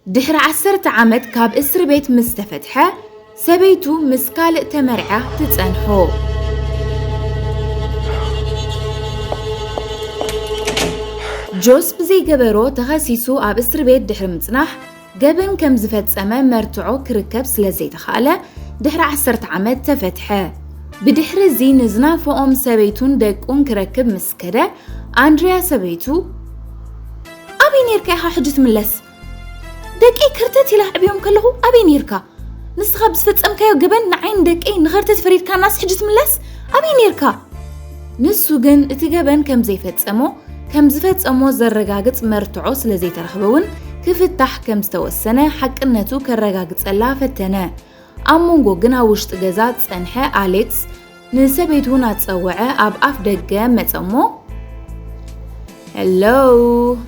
ድሕሪ ዓሰርተ ዓመት ካብ እስርቤት ምስ ተፈትሐ፣ ሰበይቱ ምስ ካልእ ተመርዕያ ትጸንሖ። ጆስ ብዘይገበሮ ተኸሲሱ ኣብ እስርቤት ድሕሪ ምጽናሕ፣ ገበን ከም ዝፈጸመ መርትዖ ክርከብ ስለ ዘይተኻእለ፣ ድሕሪ ዓሰርተ ዓመት ተፈትሐ። ብድሕሪ እዚ ንዝናፈቖም ሰበይቱን ደቁን ክረክብ ምስ ከደ፣ ኣንድርያ ሰበይቱ፣ ኣበይ ነርካ ኢኻ ሕጂ ትምለስ ደቀይ ከርተት ኢላ ኣዕብዮም ከለኹ ኣበይ ነርካ ንስኻ ብዝፈጸምካዮ ገበን ንዓይን ደቀይ ንኸርተት ፈሪድካናስ ሕጂ ትምለስ ኣበይ ነርካ ንሱ ግን እቲ ገበን ከም ዘይፈጸሞ ከም ዝፈጸሞ ዘረጋግጽ መርትዖ ስለ ዘይተረኽበ እውን ክፍታሕ ከም ዝተወሰነ ሓቅነቱ ከረጋግጸላ ፈተነ ኣብ መንጎ ግን ኣብ ውሽጢ ገዛ ዝጸንሐ ኣሌክስ ንሰበይቱ እናጸወዐ ኣብ ኣፍ ደገ መጸ እሞ ሄሎ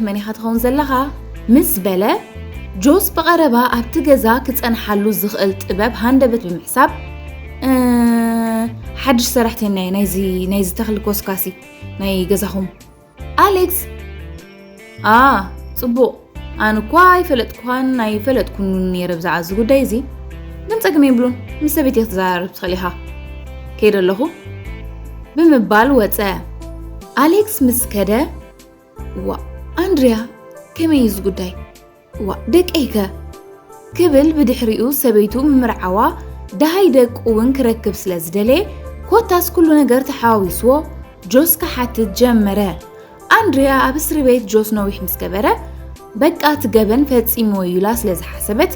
መን ኢኻ ትኸውን ዘለኻ ምስ በለ ጆስ ብቐረባ ኣብቲ ገዛ ክጸንሓሉ ዝኽእል ጥበብ ሃንደበት ብምሕሳብ ሓድሽ ሰራሕተኛ ናይዚ ተኽሊ ኮስካሲ ናይ ገዛኹም ኣሌክስ a ጽቡቕ ኣነ እኳ ኣይፈለጥኩኻን ኣይፈለጥኩን ነይረ ብዛዕባ እዚ ጉዳይ እዚ ግን ጸግሚ የብሉን ምስ ሰበይቲ ክትዘራረብ ትኽእል ኢኻ ከይደ ኣለኹ ብምባል ወፀ ኣሌክስ ምስ ከደ ዋ ኣንድርያ ከመይ እዩ እዚ ጉዳይ ዋእ ደቀይከ ክብል ብድሕሪኡ ሰበይቱ ምምርዓዋ ደሃይ ደቁ እውን ክረክብ ስለ ዝደለየ ኮታስ ኩሉ ነገር ተሓዋዊስዎ ጆስ ክሓትት ጀመረ። ኣንድሪያ ኣብ እስሪ ቤት ጆስ ነዊሕ ምስ ገበረ በቃ እቲ ገበን ፈፂምዎ እዩ ኢላ ስለ ዝሓሰበት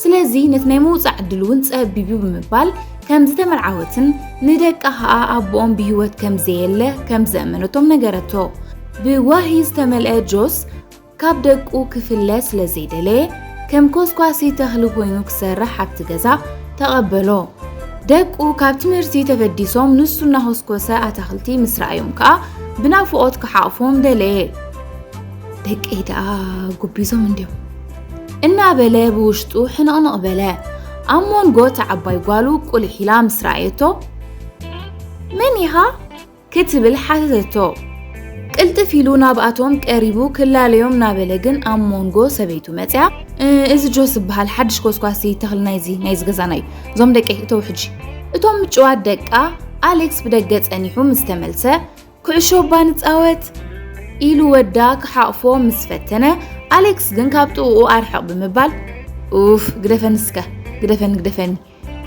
ስለዚ ነቲ ናይ ምውፃእ ዕድል እውን ፀቢቡ ብምባል ከም ዝተመርዓወትን ንደቃ ከዓ ኣቦኦም ብሂወት ከም ዘየለ ከም ዘእመነቶም ነገረቶ። ብዋሂ ዝተመልአ ጆስ ካብ ደቁ ክፍለ ስለ ዘይደለየ ከም ኮስኳሲ ተኽሊ ኮይኑ ክሰርሕ ኣብቲ ገዛ ተቐበሎ። ደቁ ካብ ትምህርቲ ተበዲሶም ንሱ እናኾስኮሰ ኣታኽልቲ ምስ ረኣዮም ከዓ ብናፍቖት ክሓቕፎም ደለየ። ደቀይ ደኣ ጉቢዞም እንድዮም እናበለ ብውሽጡ ሕንቕንቕ በለ። ኣብ ሞንጎ እቲ ዓባይ ጓሉ ቁሊሕ ኢላ ምስ ረኣየቶ መን ኢኻ ክትብል ሓተተቶ። ቅልጥፍ ኢሉ ናብኣቶም ቀሪቡ ክላለዮም ናበለ ግን ኣብ ሞንጎ ሰበይቱ መጽያ እዚ ጆስ ዝበሃል ሓድሽ ኮስኳሲ ተኽሊ ናይዚ ናይዚ ገዛና እዩ እዞም ደቂ እተው ሕጂ እቶም ምጭዋት ደቃ ኣሌክስ ብደገ ጸኒሑ ምስ ተመልሰ ኩዕሾ እባ ንጻወት ኢሉ ወዳ ክሓቕፎ ምስ ፈተነ ኣሌክስ ግን ካብ ጥቕኡ ኣርሕቕ ብምባል ኡፍ ግደፈኒ እስከ ግደፈኒ ግደፈኒ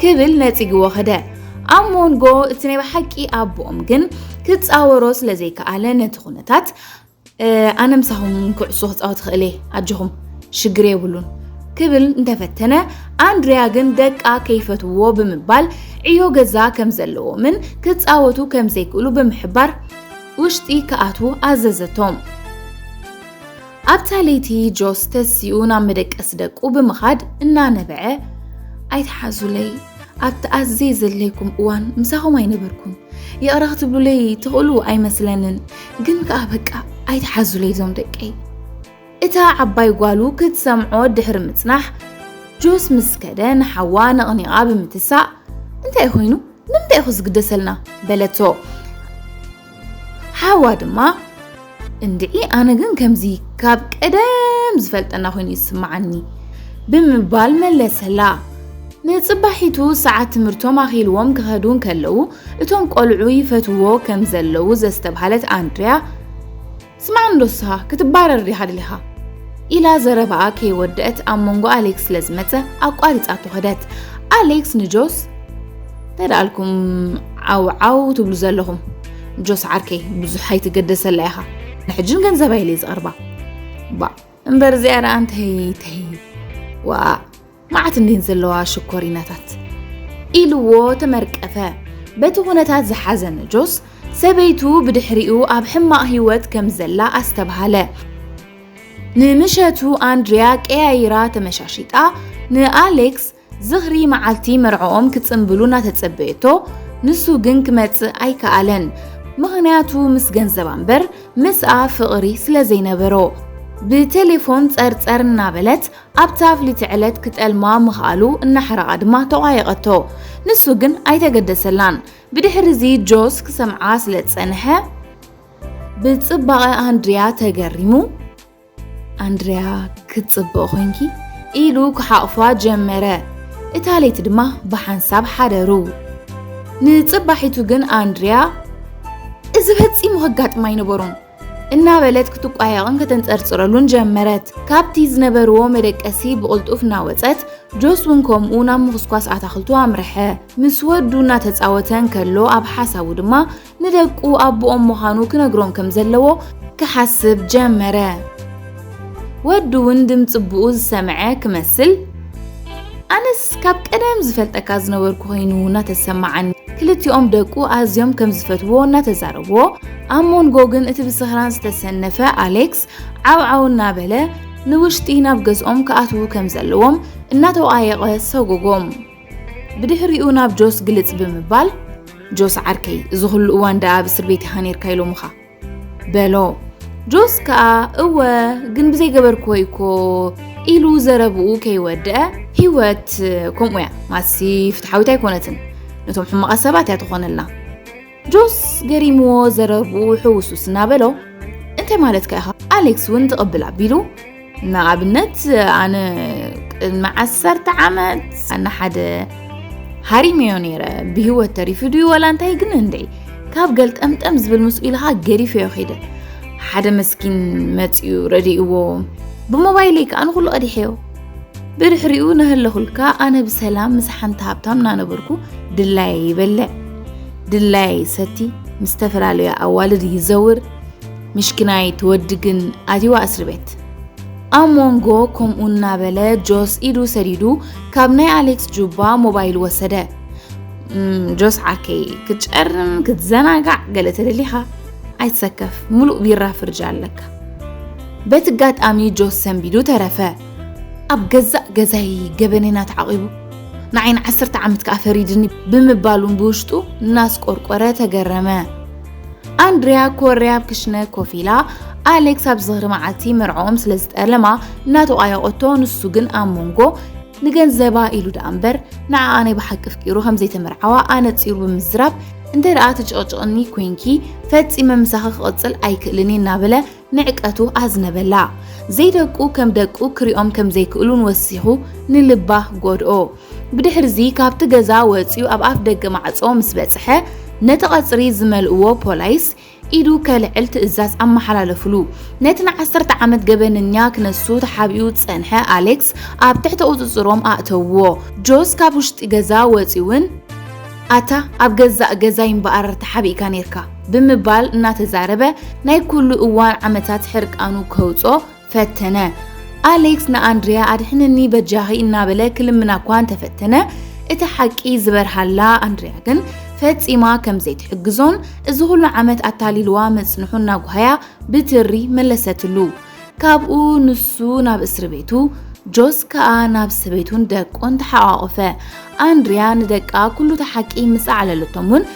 ክብል ነጺግዎ ከደ። ኣብ ሞንጎ እቲ ናይ ብሓቂ ኣቦኦም ግን ክጻወሮ ስለ ዘይከኣለ ነቲ ኩነታት ኣነ ምሳኹም ኩዕሶ ክጻወት ክኽእል እየ ኣጆኹም ሽግር የብሉን ክብል እንተፈተነ ኣንድሪያ ግን ደቃ ከይፈትዎ ብምባል ዕዮ ገዛ ከም ዘለዎምን ክፃወቱ ከም ዘይክእሉ ብምሕባር ውሽጢ ክኣትዉ ኣዘዘቶም። ኣብታ ለይቲ ጆስ ተሲኡ ናብ መደቀሲ ደቁ ብምኻድ እናነበዐ ኣይትሓዙለይ ኣብቲ ኣዝየ ዘድለይኩም እዋን ምሳኹም ኣይነበርኩም ይቕረ ክትብሉለይ ትኽእሉ ኣይመስለንን ግን ከኣ በቃ ኣይትሓዙለይ ዞም ደቀይ እታ ዓባይ ጓሉ ክትሰምዖ ድሕሪ ምጽናሕ ጆስ ምስ ከደ ንሓዋ ነቕኒቓ ብምትሳእ እንታይ ኮይኑ ንምንታይ ኢኹ ዝግደሰልና በለቶ ሓዋ ድማ እንድዒ ኣነ ግን ከምዚ ካብ ቀደም ዝፈልጠና ኮይኑ እዩ ዝስምዓኒ ብምባል መለሰላ። ንጽባሒቱ ሰዓት ትምህርቶም ኣኺልዎም ክኸዱ እንከለዉ እቶም ቆልዑ ይፈትዎ ከም ዘለዉ ዘስተብሃለት ኣንድርያ ስማዕ እንዶ እስኻ ክትባረር ዲኻ ደሊኻ? ኢላ ዘረባኣ ከይወደአት ኣብ መንጎ ኣሌክስ ስለ ዝመጸ ኣቋሪጻቶ ከደት። ኣሌክስ ንጆስ ተዳልኩም ዓውዓው ትብሉ ዘለኹም ጆስ ዓርከይ ብዙሕ ኣይትገደሰላ ኢኻ ንሕጅን ገንዘብ ኣይለይ ዝቐርባ ባ እምበር እዚኣ ደኣ እንተይ ተይ ዋእ መዓት እንዲን ዘለዋ ሽኮሪናታት ኢልዎ ተመርቀፈ። በቲ ኩነታት ዝሓዘነ ጆስ ሰበይቱ ብድሕሪኡ ኣብ ሕማቕ ህይወት ከም ዘላ ኣስተብሃለ። ንምሸቱ ኣንድሪያ ቀያይራ ተመሻሺጣ ንኣሌክስ ዝኽሪ መዓልቲ መርዕኦም ክጽምብሉ እናተጸበየቶ ንሱ ግን ክመጽእ ኣይከኣለን። ምኽንያቱ ምስ ገንዘባ እምበር ምስኣ ፍቕሪ ስለ ዘይነበሮ። ብቴሌፎን ጸርጸር እናበለት ኣብታ ፍልይቲ ዕለት ክጠልማ ምኽኣሉ እናሓረቓ ድማ ተቋየቐቶ። ንሱ ግን ኣይተገደሰላን። ብድሕሪዚ ጆስ ክሰምዓ ስለ ዝጸንሐ ብጽባቐ ኣንድርያ ተገሪሙ ኣንድርያ ክትጽብቕ ኮንኪ ኢሉ ክሓቑፋ ጀመረ። እታ ለይቲ ድማ ብሓንሳብ ሓደሩ። ንጽባሒቱ ግን ኣንድርያ እዚ ፈጺሙ ከጋጥም ኣይነበሮን እናበለት ክትቋየቕን ከተንጸርጽረሉን ጀመረት። ካብቲ ዝነበርዎ መደቀሲ ብቕልጡፍ እናወጸት፣ ጆስ እውን ከምኡ ናብ ምኹስኳስ ኣታኽልቱ ኣምርሐ። ምስ ወዱ እናተጻወተ እንከሎ ኣብ ሓሳቡ ድማ ንደቁ ኣቦኦም ምዃኑ ክነግሮም ከም ዘለዎ ክሓስብ ጀመረ። ወዱ ውን ድምጺ ቡኡ ዝሰመዐ ክመስል ኣነስ ካብ ቀደም ዝፈልጠካ ዝነበርኩ ኮይኑ እናተሰማዓኒ ክልቲኦም ደቁ ኣዝዮም ከም ዝፈትዎ እናተዛረብዎ ኣብ ሞንጎ ግን እቲ ብስኽራን ዝተሰነፈ ኣሌክስ ዓውዓው እናበለ ንውሽጢ ናብ ገዝኦም ክኣትዉ ከም ዘለዎም እናተወኣየቐ ሰጎጎም ብድሕሪኡ ናብ ጆስ ግልጽ ብምባል ጆስ ዓርከይ እዚ ኹሉ እዋን ደኣ ኣብ እስር ቤት ኢኻ ነርካ ኢሎምኻ በሎ። ጆስ ከኣ እወ ግን ብዘይገበርክዎ እኮ ኢሉ ዘረብኡ ከይወድአ ህይወት ከምኡ እያ ማሲ ፍትሓዊት ኣይኮነትን ነቶም ሕማቓት ሰባት እያ ትኾነላ ጆስ ገሪምዎ ዘረብኡ ሕውሱስ እናበሎ እንታይ ማለትካ ኢኻ ኣሌክስ እውን ትቕብል ኣቢሉ ንኣብነት ኣነ ቅድሚ ዓሰርተ ዓመት ንሓደ ሃሪመዮ ነይረ ብሂወት ተሪፉ ድዩ ወላ እንታይ ግን እንደይ ካብ ገልጠምጠም ዝብል ምስኡ ኢልኻ ገዲፈዮ ኺደ ሓደ መስኪን መፅኡ ረድእዎ ብሞባይለይ ከዓ ንኩሉ ቀዲሐዮ ብድሕሪኡ ናህለኹልካ ኣነ ብሰላም ምስ ሓንቲ ሃብታም እናነበርኩ ድላይ ይበልዕ ድላይ ሰቲ ምስ ዝተፈላለዩ ኣዋልድ ይዘውር ምሽኪናይ እቲ ወዲ ግን ኣትይዋ እስሪ ቤት። ኣብ ሞንጎ ከምኡ እናበለ ጆስ ኢዱ ሰዲዱ ካብ ናይ ኣሌክስ ጁባ ሞባይል ወሰደ። ጆስ ዓርከይ ክትጨርም ክትዘናጋዕ ገለ ተደሊኻ ኣይትሰከፍ፣ ሙሉእ ቢራ ፍርጃ ኣለካ። በቲ ኣጋጣሚ ጆስ ሰንቢዱ ተረፈ። ኣብ ገዛእ ገዛይ ገበነና ተዓቂቡ ንዓይ ንዓሰርተ ዓመት ከዓ ፈሪድኒ ብምባሉን ብውሽጡ እናስቆርቆረ ተገረመ። ኣንድርያ ኮርያ ኣብ ክሽነ ኮፍ ኢላ ኣሌክስ ኣብ ዝኽሪ መዓልቲ መርዕኦም ስለ ዝጠለማ እናተቋየቖቶ ንሱ ግን ኣብ መንጎ ንገንዘባ ኢሉ ደኣ እምበር ንዓኣ ናይ ብሓቂ ፍቂሩ ከም ዘይተመርዓዋ ኣነጺሩ ብምዝራብ እንተ ደኣ ትጭቕጭቕኒ ኮንኪ ፈጺመ ምሳኺ ክቕጽል ኣይክእልን እናበለ ንዕቀቱ ኣዝነበላ ዘይደቁ ከም ደቁ ክሪኦም ከም ዘይክእሉን ወሲኹ ንልባ ጎድኦ ብድሕርዚ ካብቲ ገዛ ወጺኡ ኣብ ኣፍ ደገ ማዕጾ ምስ በጽሐ ነቲ ቀጽሪ ዝመልእዎ ፖላይስ ኢዱ ከልዕል ትእዛዝ ኣመሓላለፍሉ። ነቲ ንዓሰርተ ዓመት ገበነኛ ክነሱ ተሓቢኡ ዝጸንሐ ኣሌክስ ኣብ ትሕቲ ቁጽጽሮም ኣእተውዎ። ጆስ ካብ ውሽጢ ገዛ ወጺኡን ኣታ ኣብ ገዛእ ገዛይ እምበኣር ተሓቢእካ ኔርካ ብምባል እናተዛረበ ናይ ኩሉ እዋን ዓመታት ሕርቃኑ ከውጽኦ ፈተነ። ኣሌክስ ንኣንድርያ ኣድሕንኒ በጃኺ እናበለ ክልምና እኳ እንተፈተነ እቲ ሓቂ ዝበርሃላ ኣንድርያ ግን ፈጺማ ከም ዘይትሕግዞን እዚ ኹሉ ዓመት ኣታሊልዋ ምጽንሑ እናጓሃያ ብትሪ መለሰትሉ። ካብኡ ንሱ ናብ እስሪ ቤቱ ጆስ ከኣ ናብ ሰበይቱን ደቁን ተሓቛቖፈ። ኣንድርያ ንደቃ ኩሉ እቲ ሓቂ ምስ ኣዕለለቶም እውን